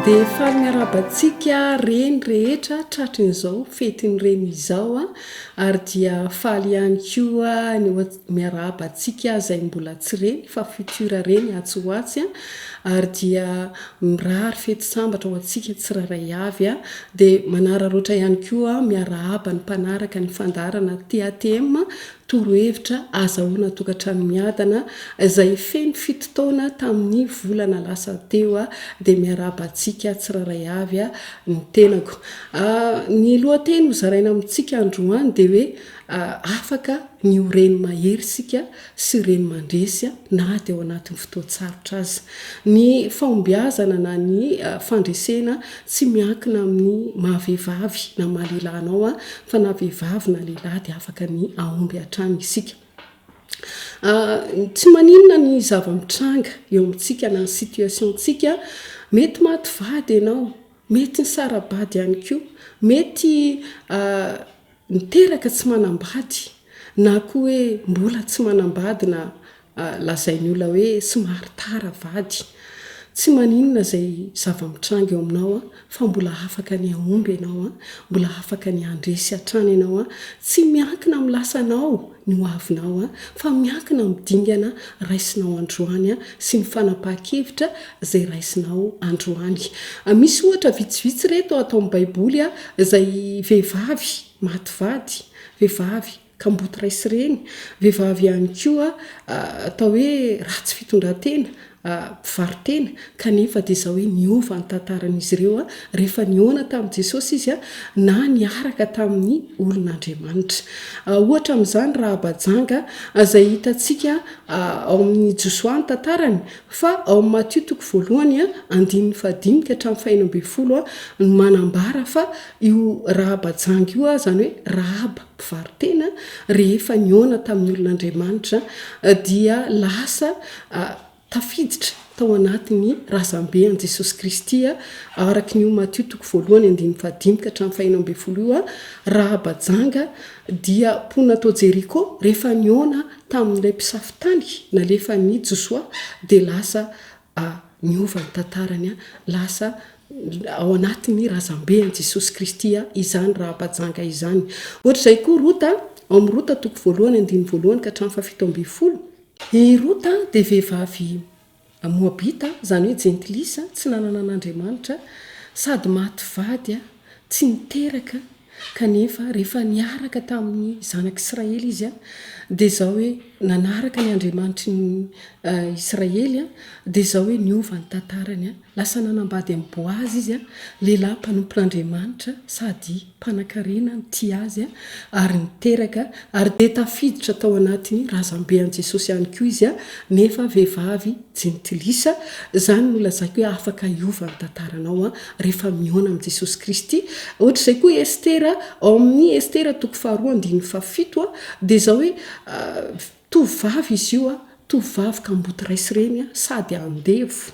Dia faly miarahaba antsika reny rehetra tratrin'izao fetin'ny reny izao ary dia faly ihany koa ny Miarahaba antsika izay mbola tsy reny fa futur reny atsy ho atsy a! ary dia mirary fety sambatra ho antsika tsirairay avy a! dia manararaotra ihany koa aho miarahaba ny mpanaraka ny fandaharana TATM torohevitra azahoana tokantrano miadana izay feno fito taona tamin'ny volana lasa teo a! dia miarahaba antsika tsirairay avy a! ny tenako a! ny lohateny ho zaraina amintsika androany dia hoe Afaka ny ho reny mahery isika sy reny mandresy na dia ao anatin'ny fotoan-tsarotra aza. Ny fahombiazana na ny fandresena tsy miankina amin'ny maha vehivavy na maha lehilahy anao fa na vehivavy na lehilahy dia afaka ny hahomby hatrany isika. Tsy maninona ny zava-mitranga eo amintsika na ny situation-tsika, mety maty vady ianao, mety nisara-bady ihany koa, mety Niteraka tsy manambady na koa hoe mbola tsy manambady na lazain'ny olona hoe somary tara vady. Tsy maninona izay zava-mitranga eo aminao fa mbola afaka ny hahomby ianao, mbola afaka ny handresy hatrany ianao. Tsy miankina amin'ny lasanao ny ho avinao fa miankina amin'ny dingana raisinao androany sy ny fanapahan-kevitra izay raisinao androany. Misy ohatra vitsivitsy ireto ato amin'ny Baiboly izay vehivavy maty vady, vehivavy kamboty ray sy reny, vehivavy ihany koa atao hoe ratsy fitondran-tena, mpivaro-tena, kanefa dia izao hoe niova ny tantaran'izy ireo rehefa nihaona tamin'i Jesosy izy na niaraka tamin'ny olon'Andriamanitra. Ohatra amin'izany Rahaba janga, izay hitantsika ao amin'ny Josoa ny tantarany, fa ao amin'ny Matio toko voalohany andininy fahadimy ka hatramin'ny fahenina ambin'ny folo no manambara fa io Rahaba janga io, izany hoe Rahaba, mpivaro-tena, rehefa nihaona tamin'ny olon'Andriamanitra, dia lasa tafiditra tao anatin'ny razambe an'i Jesosy Kristy, araka ny ho Matio toko voalohany andininy fahadimy ka hatramin'ny fahenina ambin'ny folo io, Rahaba janga dia mponina tao Jeriko, rehefa nihaona tamin'ilay mpisafo tany nalefan'i Josoa, dia lasa A, Niova ny tantarany a! Lasa ao anatin'ny razambe an'i Jesosy Kristy a, izany raham-pajanga izany. Ohatra izay koa Rota, ao amin'ny Rota toko voalohany andininy voalohany ka hatramin'ny fahafito ambin'ny folo, i Rota dia vehivavy Moabita, izany hoe jentilisa, tsy nanana an'Andriamanitra, sady maty vady a. Tsy niteraka, kanefa rehefa niaraka tamin'ny zanak'Israely izy, dia izao hoe, nanaraka ny Andriamanitry ny Israely, dia izao hoe, niova ny tantarany, lasa nanambady an'i Boaza izy, lehilahy mpanompon'Andriamanitra sady mpanankarena nitia azy, ary niteraka, ary dia tafiditra tao anatin'ny razambe an'i Jesosy ihany koa izy, nefa vehivavy jentilisa, izany no lazaiko hoe afaka hiova ny tantaranao, rehefa mihaona amin'i Jesosy Kristy. Ohatr'izay koa i Estera, ao amin'ny Estera toko faharoa andininy fahafito a, dia izao hoe, tovovavy izy io a, tovovavy kamboty ray sy reny a, sady andevo,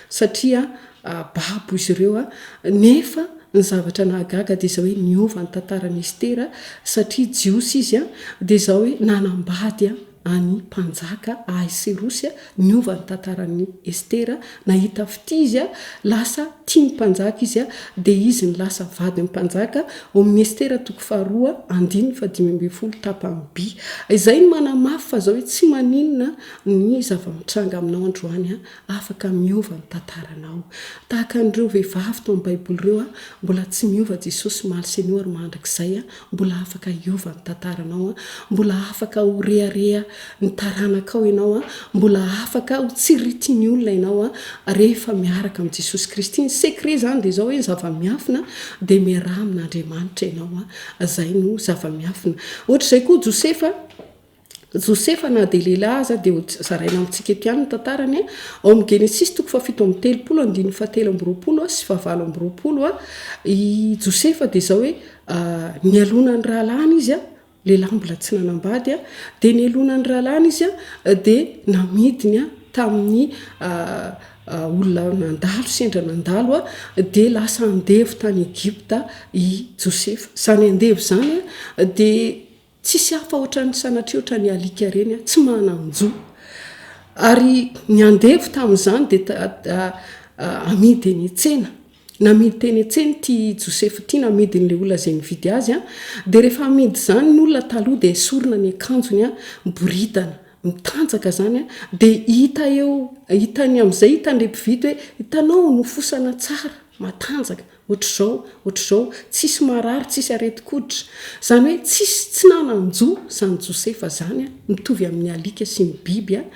satria babo izy ireo a, nefa ny zavatra nahagaga dia izao hoe, niova ny tantaran'i Estera, satria jiosy izy a, dia izao hoe, nanambady a, an'i Mpanjaka Ahaisirosy niova ny tantaran'i Estera, nahita fitia izy, lasa tia ny Mpanjaka izy, dia izy no lasa vadin'ny Mpanjaka, ao amin'ny Estera toko faharoa andininy fahadimy ambin'ny folo tapany by. Izay no manamafy fa zao hoe tsy maninona ny zava-mitranga aminao androany, afaka miova ny tantaranao. Tahaka an'ireo vehivavy tao amin'ny Baiboly ireo, mbola tsy miova Jesosy omaly sy anio ary mandrakizay, Mbola afaka hiova ny tantaranao an! Mbola afaka ho rehareha ny taranakao ianao an! Mbola afaka ho tsiritin'ny olona ianao an! Rehefa miaraka amin'i Jesosy Kristy, ny secret izany dia izao hoe ny zava-miafina dia miaraha amin'Andriamanitra ianao an! Izay no zava-miafina. Ohatr'izay koa Josefa. Josefa na dia lehilahy aza dia ho zaraina amintsika eto ihany ny tantarany. Ao amin'ny Genesisy toko fahafito amby telopolo andininy fahatelo amby roapolo sy fahavalo amby roapolo, i Josefa dia izao hoe nialona ny rahalahiny izy, lehilahy mbola tsy nanambady, dia nialona ny rahalahiny izy dia namidiny tamin'ny olona nandalo, sendra nandalo, dia lasa andevo tany Egypta i Josefa. Izany andevo izany dia Tsisy hafa ohatran'ny sanatria ohatran'ny alika ireny an, tsy manan-jo. Ary ny andevo tamin'izany dia amidy eny an-tsena. Namidy teny an-tsena ity Josefa ity, namidy an'ilay olona izay nividy azy an, dia rehefa amidy izany ny olona taloha dia esorina ny akanjony an, miboridana, mitanjaka izany an, dia hita eo, hitan'ny amin'izay, hitan'ilay mpividy hoe, hitanao, nofosana tsara, matanjaka. Ohatr'izao, ohatr'izao, tsisy marary, tsisy aretin-koditra. Izany hoe tsisy tsy nanan-jo izany Josefa izany, mitovy amin'ny alika sy ny biby an!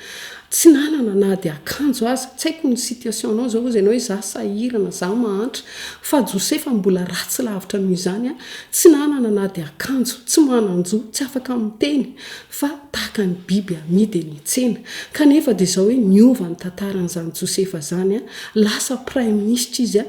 Tsy nanana na dia akanjo aza. Tsy haiko ny situation-nao izao, hoy ianao hoe izaho sahirana, izaho mahantra. Fa Josefa mbola ratsy lavitra noho izany an! Tsy nanana na dia akanjo, tsy manan-jo, tsy afaka miteny. fa tahaka ny biby amidy eny an-tsena, kanefa dia izao hoe niova ny tantaran'izany Josefa izany, lasa praiminisitra izy,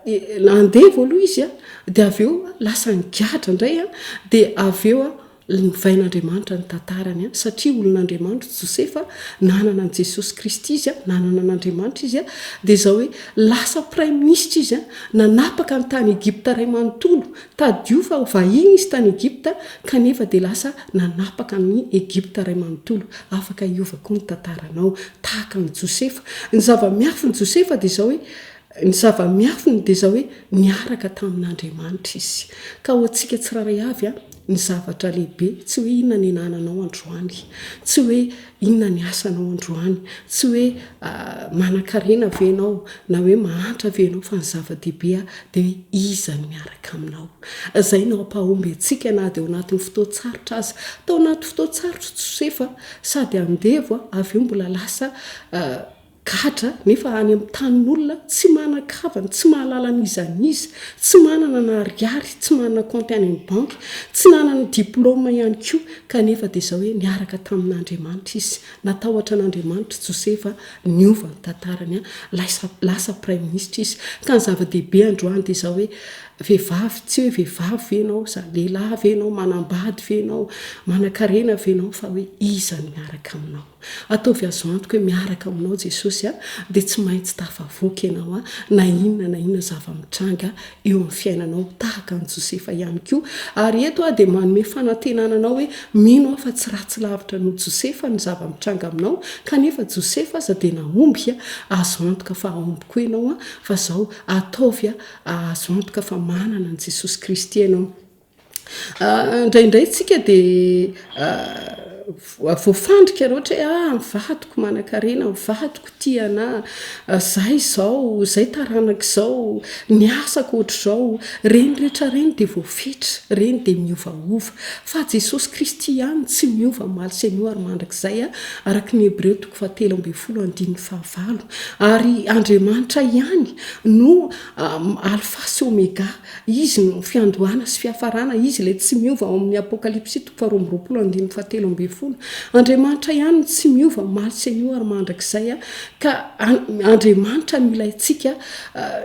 dia andevo aloha izy, dia avy eo lasa nigadra indray, dia avy eo novain'Andriamanitra ny tantarany, satria olon'Andriamanitra i Josefa, nanana an'i Jesosy Kristy izy, nanana an'Andriamanitra izy, dia izao hoe lasa praiminisitra izy, nanapaka ny tany Egypta iray manontolo, Tadidio fa ho vahiny izy tany Egypta kanefa dia lasa nanapaka amin'i Egypta iray manontolo. Afaka hiova koa ny tantaranao tahaka an'i Josefa. Ny zava-miafin'i Josefa dia izao hoe, Ny zava-miafiny dia izao hoe, niaraka tamin'Andriamanitra izy. Ka ho antsika tsirairay avy, ny zavatra lehibe tsy hoe inona ny anananao androany. Tsy hoe Inona ny asanao androany? Tsy hoe manan-karena ve ianao na hoe mahantra ve ianao fa ny zava-dehibe dia hoe iza no miaraka aminao. Izay no hampahomby antsika na dia ao anatin'ny fotoan-tsarotra aza. Tao anaty fotoan-tsarotra i Josefa, sady andevo avy eo mbola lasa Gadra a, nefa any amin'ny tanin'olona, tsy manan-kavana, tsy mahalala ny iza ny iza, tsy manana na ariary, tsy manana kaonty any amin'ny banky, tsy nanana diplaoma ihany koa, kanefa dia izao hoe niaraka tamin'Andriamanitra izy, natahotra an'Andriamanitra i Josefa, niova ny tantarany, lasa, lasa praiminisitra izy. Ka ny zava-dehibe androany dia izao hoe, vehivavy, tsy hoe vehivavy ve ianao, sa lehilahy ve ianao, manam-bady ve ianao, manan-karena ve ianao, fa hoe iza no miaraka aminao. Ataovy azo antoka hoe miaraka aminao Jesosy a, dia tsy maintsy tafavoaka ianao a, na inona na inona zava-mitranga eo amin'ny fiainanao, tahaka an'i Josefa ihany koa. Ary eto aho dia manome fanantenana anao hoe mino aho fa tsy ratsy lavitra noho Josefa ny zava-mitranga aminao, kanefa Josefa aza dia nahomby a, azo antoka fa hahomby koa ianao a, fa izao, ataovy a, azo antoka fa manana an'i Jesosy Kristy ianao. Indraindray tsika dia voafandrika loatra hoe aah ny vadiko manankarena, ny vadiko tia anah, zah izao, zay taranaka izao, ny asako ohatr'izao, ireny rehetra ireny dia voafetra, ireny dia miovaova. Fa Jesosy Kristy ihany tsy miova omaly sy anio ary mandrakizay, araka ny Hebreo toko fahatelo ambin'ny folo andininy fahavalo. Ary Andriamanitra ihany no Alfa sy Omega. Izy no fiandohana sy fiafarana, Izy ilay tsy miova ao amin'ny Apokalypsy toko faharoa amby roapolo andininy fahatelo ambin'ny folo. Andriamanitra ihany no tsy miova, omaly sy anio ary mandrakizay. Ka Andriamanitra no ilay antsika,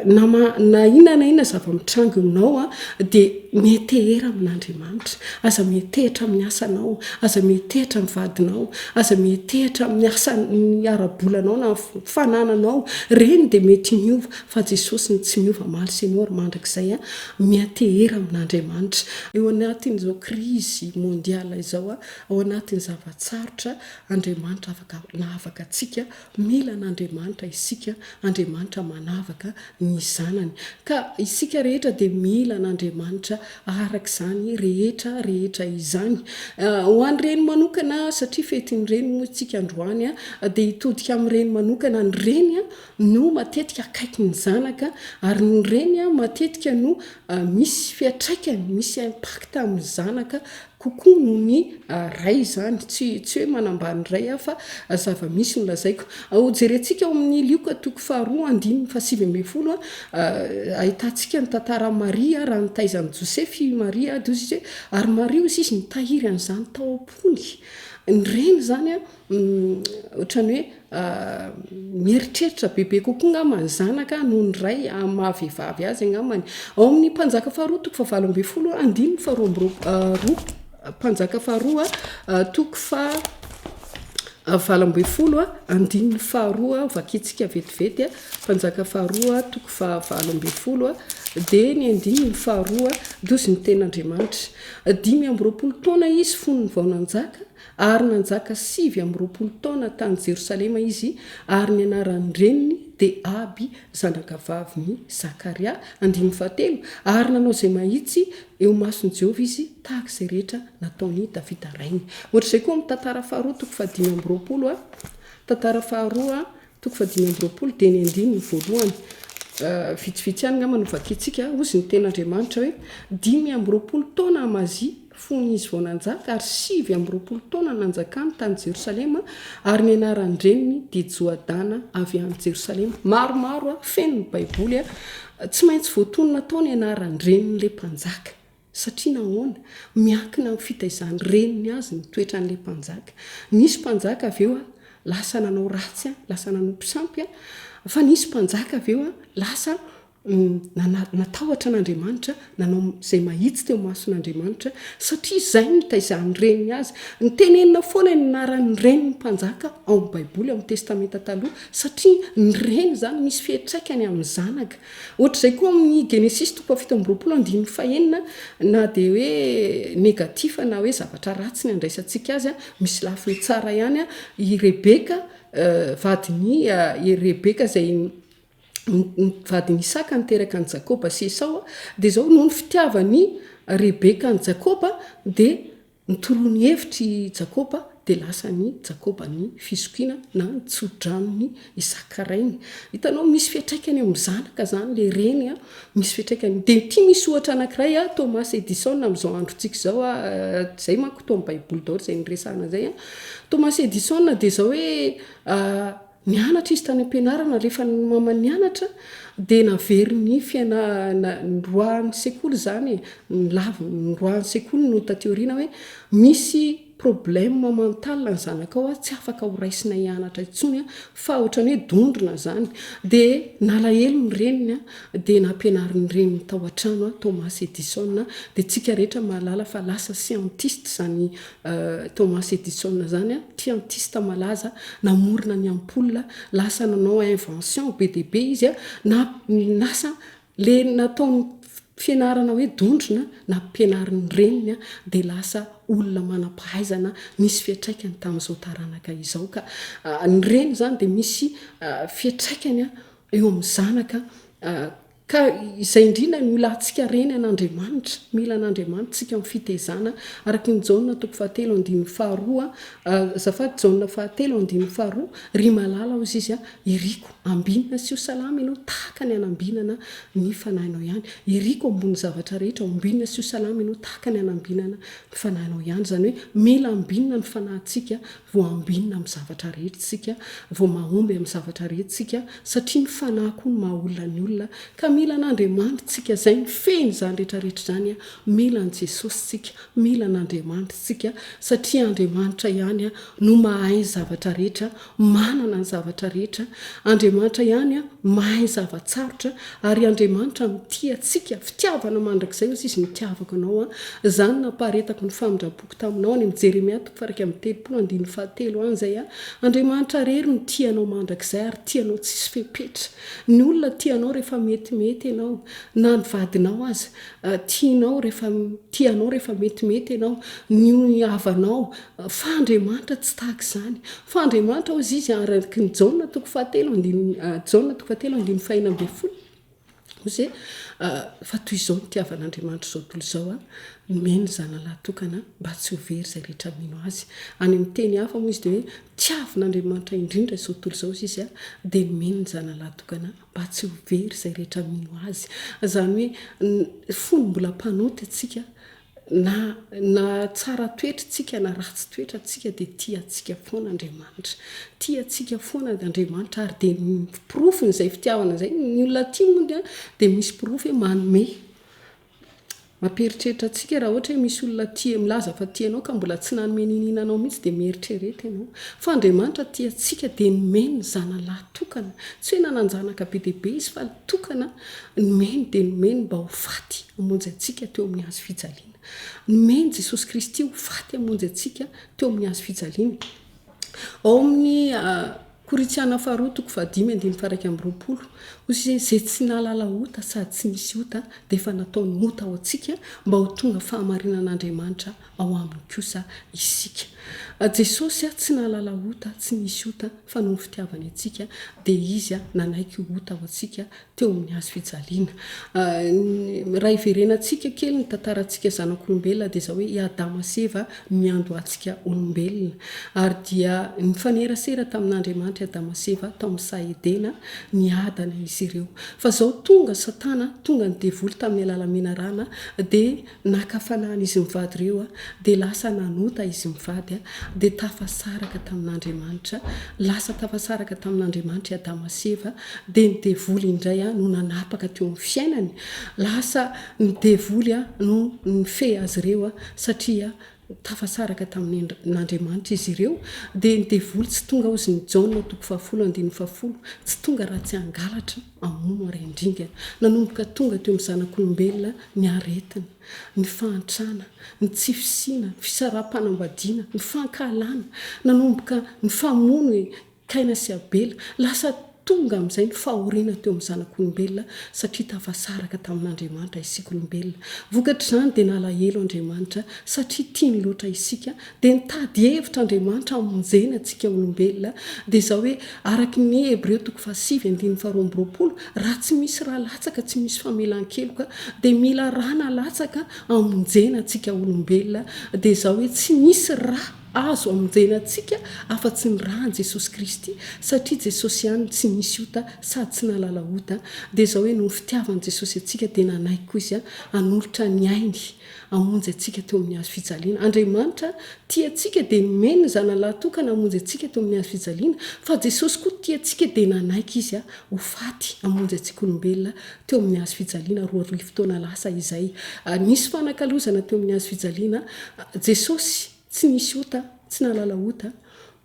na ma, na inona na inona zava-mitranga eo aminao, dia miantehera amin'Andriamanitra. Aza miantehitra amin'ny asanao, aza miantehitra amin'ny vadinao, aza miantehitra amin'ny asan'ny ara-bolanao na ny fanananao, ireny dia mety miova Fa Jesosy no tsy miova omaly sy anio ary mandrakizay a! Miatehera amin'Andriamanitra. Eo anatin'izao krizy mondial izao a, ao anatin'ny zava-tsarotra, Andriamanitra afaka nahavaka antsika, mila an'Andriamanitra isika, Andriamanitra manavaka ny zanany. Ka isika rehetra dia mila an'Andriamanitra araka izany rehetra rehetra izany. Ho an'ny reny manokana, satria fetin'ny reny moa isika androany a, dia hitodika amin'ny reny manokana ny reny a, no matetika akaiky ny zanaka ary ny reny matetika no misy fiatraikany, misy impact amin'ny zanaka kokoa noho ny ray izany. Tsy tsy hoe manambany ray aho fa zava-misy no lazaiko. Jerentsika ao amin'ny Lioka toko faharoa andininy fahasivy ambin'ny folo, ahitantsika ny tantaran'i Maria raha nitaiza an'i Joseph i Maria, ary Maria hoy izy nitahiry an'izany tao am-pony. Ny reny izany Ohatran'ny hoe mieritreritra bebe kokoa angamba ny zanaka noho ny ray amin'ny maha vehivavy azy angamba ny ao amin'ny mpanjaka faharoa toko fahavalo ambin'ny folo andininy faharoa amby roapolo mpanjaka faharoa toko fahavalo ambin'ny folo andininy faharoa vakintsika vetivety mpanjaka faharoa toko fahavalo ambin'ny folo dia ny andininy faharoa dozy ny tenin'Andriamanitra dimy amby roapolo taona izy fony vao nanjaka Ary nanjaka sivy amby roapolo taona tany Jerosalema izy, ary ny anaran'ny reniny dia Aby, zanakavavin'i Zakaria, andininy fahatelo, ary nanao izay mahitsy eo imason'i Jehovah izy, tahaka izay rehetra nataon'i Davida rainy. Hoatr'izay koa amin'ny tantara faharoa, toko fahadimy amby roapolo, tantara faharoa, Toko fahadimy amby roapolo dia ny andininy voalohany. Vitsivitsy ihany angamba no vakintsika. Hozy ny Tenin'Andriamanitra hoe, Dimy amby roapolo taona Amazia fony izy vao nanjaka, ary sivy amby roapolo taona nanjakany tany Jerosalema, ary ny anaran-dreniny dia Joadana avy any Jerosalema. Maromaro, feno ny Baiboly. Tsy maintsy voatonona tao ny anaran-drenin'ilay mpanjaka. Satria nahoana? Miankina amin'ny fitaizan'ny reniny azy ny toetran'ilay mpanjaka. Nisy mpanjaka avy eo lasa nanao ratsy, lasa nanompo sampy, fa nisy mpanjaka avy eo lasa natahotra an'Andriamanitra, nanao izay mahitsy teo imason'Andriamanitra, satria izay no nitaizan'ny reniny azy. Nitenenina foana ny anaran'ny reniny ny mpanjaka ao amin'ny Baiboly, ao amin'ny Testamenta Taloha, satria ny reny izany misy fiantraikany amin'ny zanaka. Ohatr'izay koa amin'ny Genesisy toko fahafito amby roapolo andininy fahenina, na dia hoe negatifa na hoe zavatra ratsy ny handraisantsika azy, misy lafiny tsara ihany i Rebeka, vadin'i Rebeka izay vadin'i Isaka niteraka an'i Jakoba sy Esao, dia izao, noho ny fitiavan'i Rebeka an'i Jakoba dia, Nitoroa ny hevitr' i Jakoba, dia lasan' i Jakoba ny fizokiana na ny tso-dranon' i Isaka rainy. Hitanao, misy fiantraikany eo amin' ny zanaka izany ilay reny a! Misy fiantraikany. Dia ity misy ohatra anankiray a, Thomas Edison amin' izao androntsika izao a, izay manko toa amin'ny Baiboly daholo izay niresahana izay a. Thomas Edison dia izao hoe, Nianatra izy tany am-pianarana, rehefa nmama nianatra dia naverin'ny fianarana, niroahan'ny sekoly izany e, nilavina, niroahan'ny sekoly no taty aoriana hoe misy problème mental ny zanakao tsy afaka ho raisina hianatra intsony an, fa ohatran'ny hoe dondrona izany, dia nalahelo ny reniny dia nampianarin'ny reniny tao an-trano an, Thomas Edison dia tsika rehetra mahalala fa lasa scientiste izany Thomas Edison izany scientiste malaza namorona ny ampoule, lasa nanao invention be dia be izy, na lasa le nataony fianarana hoe dondrona nampianarin'ny reniny dia lasa olona manam-pahaizana nisy fiantraikany tamin'izao taranaka izao ka ny reny izany dia misy fiantraikany eo amin'ny zanaka Ka izay indrindra no ilantsika reny an'Andriamanitra, mila an'Andriamanitra tsika amin'ny fitezana, araka ny Jaona toko fahatelo andininy faharoa, azafady Jaona fahatelo andininy faharoa, ry malala hozy izy a, iriko, ambinina sy ho salama ianao tahaka ny anambinana ny fanahinao ihany, iriko ambony zavatra rehetra, hombinina sy ho salama ianao tahaka ny anambinana ny fanahinao ihany, izany hoe mila ambinina ny fanahintsika Vao ambinina amin'ny zavatra rehetra isika, vao mahomby amin'ny zavatra rehetra isika, satria ny fanahy koa no maha olona ny olona, ka mila an'Andriamanitra isika, izay mifehy izany rehetra rehetra izany, mila an'i Jesosy isika, mila an'Andriamanitra isika, satria Andriamanitra ihany no mahay ny zavatra rehetra, manana ny zavatra rehetra, Andriamanitra ihany mahay ny zava-tsarotra, ary Andriamanitra mitia antsika, fitiavana mandrakizay hoy Izy, nitiavako anao, izany nampaharetako ny famindram-poko, boky taminao any amin'i Jeremia toko faha-iraika amby telopolo andininy fahatelo any izay a, Andriamanitra rery no tia anao mandrakizay ary tia anao tsisy fepetra. Ny olona tia anao rehefa metimety ianao, na ny vadinao aza tia anao rehefa tia anao rehefa metimety ianao, ny havanao, fa Andriamanitra tsy tahaka izany. Fa Andriamanitra hozy izy araka ny Jaona toko fahatelo andininy Jaona toko fahatelo andininy fahenina ambin'ny folo, Ozy e, fa toy izao ny tiavan'Andriamanitra izao tontolo izao an, nomeny ny Zanany lahatokana mba tsy ho very izay rehetra mino Azy. Any amin'ny teny hafa moa izy dia hoe, tiavin'Andriamanitra indrindra izao tontolo izao izy an, dia nomeny ny Zanany lahatokana mba tsy ho very izay rehetra mino Azy. Izany hoe, fony mbola mpanota isika, Na na tsara toetra tsika na ratsy toetra tsika dia tia antsika foana Andriamanitra. Tia antsika foana Andriamanitra ary dia porofon' izay fitiavana izay ny olona aty moa dia dia misy porofo hoe manome. Mampieritreritra antsika raha ohatra hoe misy olona tia milaza fa tia anao ka mbola tsy nanome niniana anao mihitsy dia mieritrereta ianao. Fa Andriamanitra tia antsika dia nomeny ny Zanany lahy tokana. Tsy hoe nanan-janaka be dia be Izy fa tokana, nomeny dia nomeny mba ho faty hamonjy antsika teo amin'ny Hazo fijaliana. Nomeny Jesosy Kristy ho faty hamonjy antsika teo amin'ny Hazo fijaliana. Ao amin'ny Korintiana faharoa toko fahadimy andininy faharaika amby roapolo, hoy izy hoe izay tsy nahalala ota sady tsy nisy ota dia efa nataony ota ho antsika mba ho tonga fahamarinan'Andriamanitra ao aminy kosa isika. Jesosy tsy nahalala ota, tsy nisy ota, fa noho ny fitiavany antsika dia Izy nanaiky ho ota ho antsika teo amin'ny hazo fijaliana. Raha hiverenantsika kely ny tantarantsika zanak'olombelona dia izao hoe i Adama sy Eva niandohantsika olombelona. Ary dia nifanerasera tamin'Andriamanitra i Adama sy Eva tao amin'ny saha Edena, niadana izy ireo. Fa izao tonga Satana, tonga ny devoly tamin'ny alalan'ny menarana dia. Naka fanahiny izy mivady ireo, dia lasa nanota izy mivady, dia tafasaraka tamin'Andriamanitra. Lasa tafasaraka tamin'Andriamanitra i Adama sy Eva, dia ny devoly indray no nanapaka teo amin'ny fiainany. Lasa ny devoly no nifehy azy ireo, satria tafasaraka tamin'Andriamanitra izy ireo, dia ny devoly tsy tonga hozin'i Jaona, toko fahafolo andininy fahafolo, tsy tonga raha tsy hangalatra, hamono ary handringana. Nanomboka tonga teo amin'ny zanak'olombelona ny aretina, ny fahantrana, ny tsy fisiana, ny fisaraham-panambadiana, ny fankahalana, nanomboka ny famono e! Kaina sy Abela. Lasa tonga amin'izay ny fahoriana teo amin'ny zanak'olombelona, satria tafasaraka tamin'Andriamanitra isika olombelona. Vokatr'izany, dia nalahelo Andriamanitra, satria tiany loatra isika. Dia nitady hevitra Andriamanitra hamonjena antsika olombelona. Dia izao hoe, araka ny Hebreo toko fahasivy andininy faharoa amby roapolo, Raha tsy misy ra latsaka, tsy misy famelan-keloka. Dia mila ra nalatsaka hamonjena antsika olombelona. Dia izao hoe, tsy misy ra. Azo amonjena antsika afa-tsy ny ran'i Jesosy Kristy, satria Jesosy ihany no tsy nisy ota sady tsy nahalala ota, dia izao hoe noho ny fitiavan'i Jesosy antsika dia nanaiky koa Izy hanolotra ny ainy hamonjy antsika teo amin'ny hazo fijaliana. Andriamanitra tia antsika dia nomeny ny Zanany lahatokana hamonjy antsika teo amin'ny hazo fijaliana, fa Jesosy koa tia antsika dia nanaiky Izy ho faty hamonjy antsika olombelona teo amin'ny hazo fijaliana roa arivo taona lasa izay. Nisy fanakalozana teo amin'ny hazo fijaliana. Jesosy tsy nisy ota, tsy nahalala ota,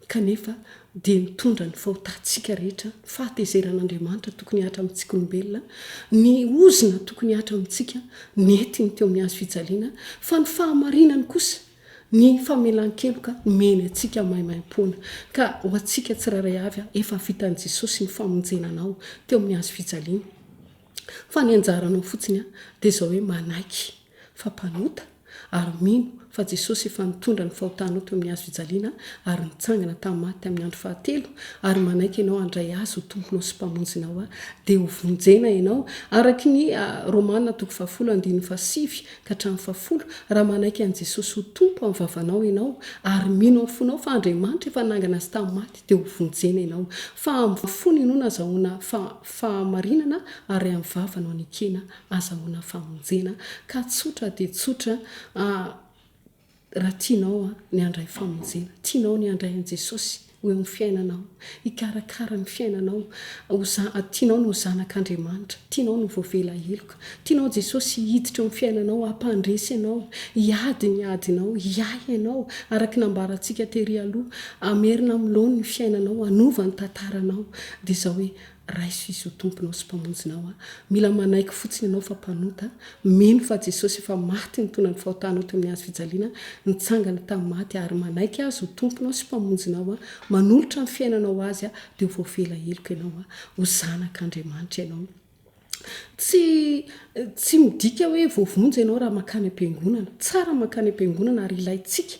kanefa dia nitondra ny fahotantsika rehetra, ny fahatezeran'Andriamanitra tokony hahatra amintsikaolombelona, ny ozona tokony hahatra amintsika, nentiny teo amin'ny hazo fijaliana, fa ny fahamarinany kosa, Ny famelan-keloka nomeny antsika maimaimpoana. Ka ho antsika tsirairay avy, efa vitan'i Jesosy ny famonjena anao teo amin'ny hazo fijaliana. Fa ny anjaranao fotsiny dia izao hoe manaiky fa mpanota ary mino fa Jesosy efa nitondra ny fahotanao teo amin'ny hazo fijaliana ary nitsangana tamin'ny maty tamin'ny andro fahatelo ary manaiky ianao handray Azy ho Tomponao sy Mpamonjinao dia hovonjena ianao araka ny Romana toko fahafolo andininy fahasivy Ka hatramin'ny fahafolo, raha manaiky an'i Jesosy ho Tompo amin'ny vavanao ianao ary mino amin'ny fonao fa Andriamanitra efa nangana Azy tamin'ny maty dia ho vonjena ianao. Fa amin'ny fo ny inoana azahoana fahamarinana ary amin'ny vava no anekena azahoana famonjena. Ka tsotra dia tsotra. Raha tianao ny handray famonjena, tianao ny handray an'i Jesosy ho eo amin'ny fiainanao, hikarakara ny fiainanao, tianao ny ho zanak'Andriamanitra, tianao ny ho voavela heloka, tianao Jesosy hiditra eo amin'ny fiainanao, hampandresy anao, hiady ny adinao, hiahy anao, araka ny nambarantsika tery aloha, hamerina amin'ny laoniny ny fiainanao, hanova ny tantaranao, dia izao hoe, Raiso Izy ho Tomponao sy Mpamonjinao an! Mila manaiky fotsiny ianao fa mpanota, mino fa Jesosy efa maty nitondra ny fahotanao teo amin'ny hazo fijaliana, nitsangana tamin'ny maty ary manaiky Azy ho Tomponao sy Mpamonjinao an! Manolotra ny fiainanao Azy an! Dia ho voavela heloka ianao an! Ho zanak'Andriamanitra ianao. Tsy, tsy midika hoe voavonjy ianao raha mankany am-piangonana. Tsara ny mankany am-piangonana ary ilaintsika.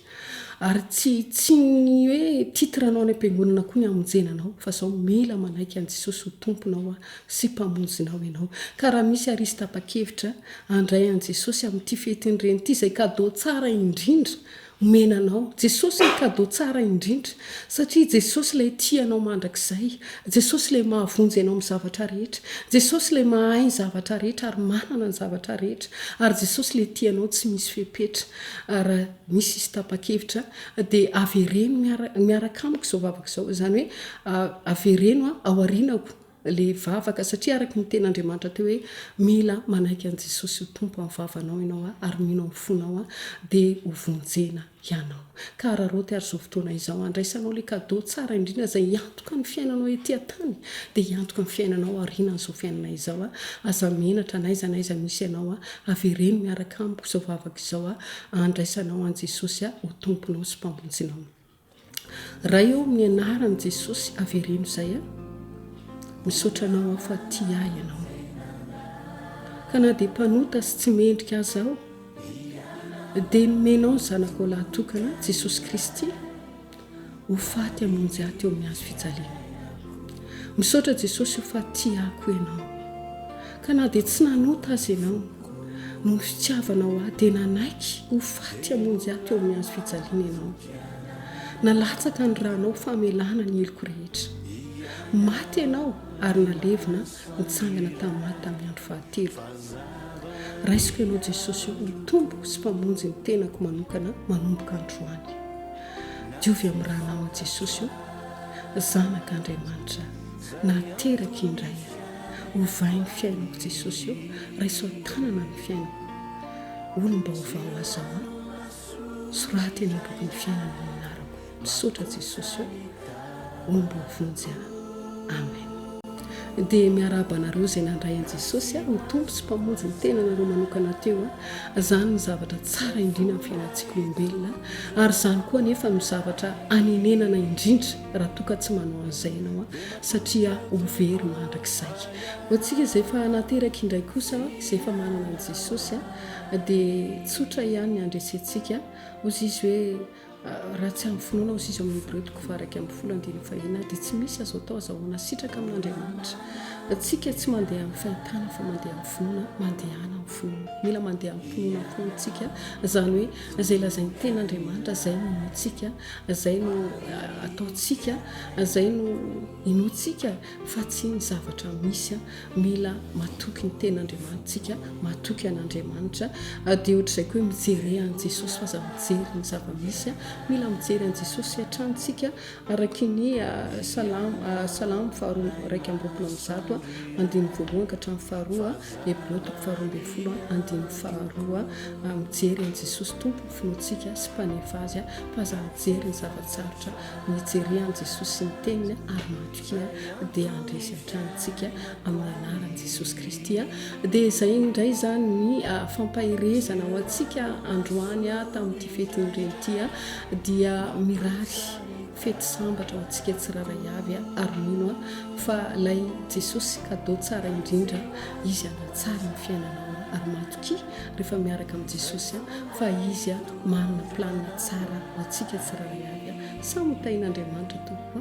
Ary tsy tsy ny hoe titre anao any am-piangonana koa ny hamonjena anao fa zao mila manaiky an'i Jesosy ho Tomponao a sy Mpamonjinao ianao. Ka raha misy arisy tapa-kevitra handray an'i Jesosy amin'ity fety ny Reny ity izay cadeau tsara indrindra omena anao. Jesosy ny cadeau tsara indrindra satria Jesosy ilay tia anao mandrakizay. Jesosy ilay mahavonjy anao amin'ny zavatra rehetra. Jesosy ilay mahay ny zavatra rehetra ary manana ny zavatra rehetra. Ary Jesosy ilay tia anao tsy misy fepetra. Ary raha misy hisy tapa-kevitra dia avereno miaraka miaraka amiko izao vavaka izao. Izany hoe avereno ao aorianako ilay vavaka, satria araka ny tenin'Andriamanitra teo hoe mila manaiky an'i Jesosy ho Tompo amin'ny vavanao ianao ary mino amin'ny fonao dia ho vonjena ianao. Ka hararaoty ary izao fotoana izao handraisanao ilay cadeau tsara indrindra izay Antoka ny fiainanao ety an-tany, dia hiantoka ny fiainanao aorianan'izao fiainana izao Aho. Aza menatra, n'aiza n'aiza misy ianao, avereno miaraka amiko izao vavaka izao handraisanao an'i Jesosy ho Tomponao sy Mpamonjinao. Ray ô, amin'ny anaran'i Jesosy, avereno izay. Misaotra Anao Aho fa tia ahy Ianao. Ka na dia mpanota sy tsy mendrika aza aho, dia nomenao ny Zanakao lahy tokana, Jesosy Kristy, Ho faty hamonjy ahy teo amin'ny hazo fijaliana. Misaotra Jesosy o fa tia ahy koa Ianao. Ka na dia tsy nanota aza Ianao, noho ny fitiavanao ahy dia nanaiky ho faty hamonjy ahy teo amin'ny hazo fijaliana Ianao. Nalatsaka ny Ranao famelana ny heloko rehetra. Maty Ianao ary nalevina nitsangana tamin'ny maty tamin'ny andro fahatelo. Raisiko Ianao Jesosy o ho Tompoko sy Mpamonjy ny tenako manokana manomboka androany. Diovy amin'ny ranao Jesosy o! Zanak' Andriamanitra nahateraka indray aho. Ovay ny fiainako Jesosy o! Raiso an-tanana ny fiainako. Olom-baovao aza aho a! Soraty eny am-bokin'ny fiainana ny anarako. Misaotra Jesosy o! hombo vonjy aho. Amen. Dia miarahaba anareo izay nandray an'i Jesosy aho ho Tompo sy Mpamonjy ny tenanareo manokana teo. Izany ny zavatra tsara indrina amin'ny fiainantsika olombelona ary izany koa nefa no zavatra anenenana indrindra raha toa ka tsy manao an'izay ianao satria ho very mandrakizay. Ho antsika izay efa nateraka indray kosa izay efa manana an'i Jesosy dia tsotra ihany ny handresentsika. Hoy izy hoe Raha tsy amin'ny finoana aho sy izy ao amin'ny Hebreo toko faha-iraika ambin'ny folo andininy fahina, dia tsy misy azo atao azahoana sitraka amin'Andriamanitra. Isika tsy mandeha amin'ny fahitana fa mandeha amin'ny finoana, mandehana amin'ny finoana. Mila mandeha amim-pinoana koa isika, izany hoe izay lazain'ny Tenin'Andriamanitra izay no inoantsika, izay no ataontsika, izay no inoantsika. fa tsy ny zavatra misy, mila matoky ny tena Andriamanitsika, matoky an'Andriamanitra, dia ohatr'izay koa hoe mijere an'i Jesosy fa aza mijery ny zava-misy, mila mijery an'i Jesosy hatrany isika araky ny salamo, salamo faharoa iraika amby roapolo amby zato andininy voalohany ka hatramin'ny faharoa, Hebreo toko faharoa ambin'ny folo andininy faharoa, mijery an'i Jesosy Tompo ny finoantsika sy Mpanefa azy fa aza mijery ny zava-tsarotra, mijere an'i Jesosy sy ny Teniny ary matoky. Kristia dia handresy hatrany antsika amin'ny anaran'i Jesosy Kristy. Dia izay indray izany ny fampaherezana ho antsika androany tamin'ity fetin'ny reny ity dia mirary fety sambatra ho antsika tsiraray avy ary mino fa ilay Jesosy kado tsara indrindra izy hanatsara ny fiainanao ary matoki rehefa miaraka amin'i Jesosy fa izy manana planina tsara ho antsika tsiraray avy samy tain'Andriamanitra tompoko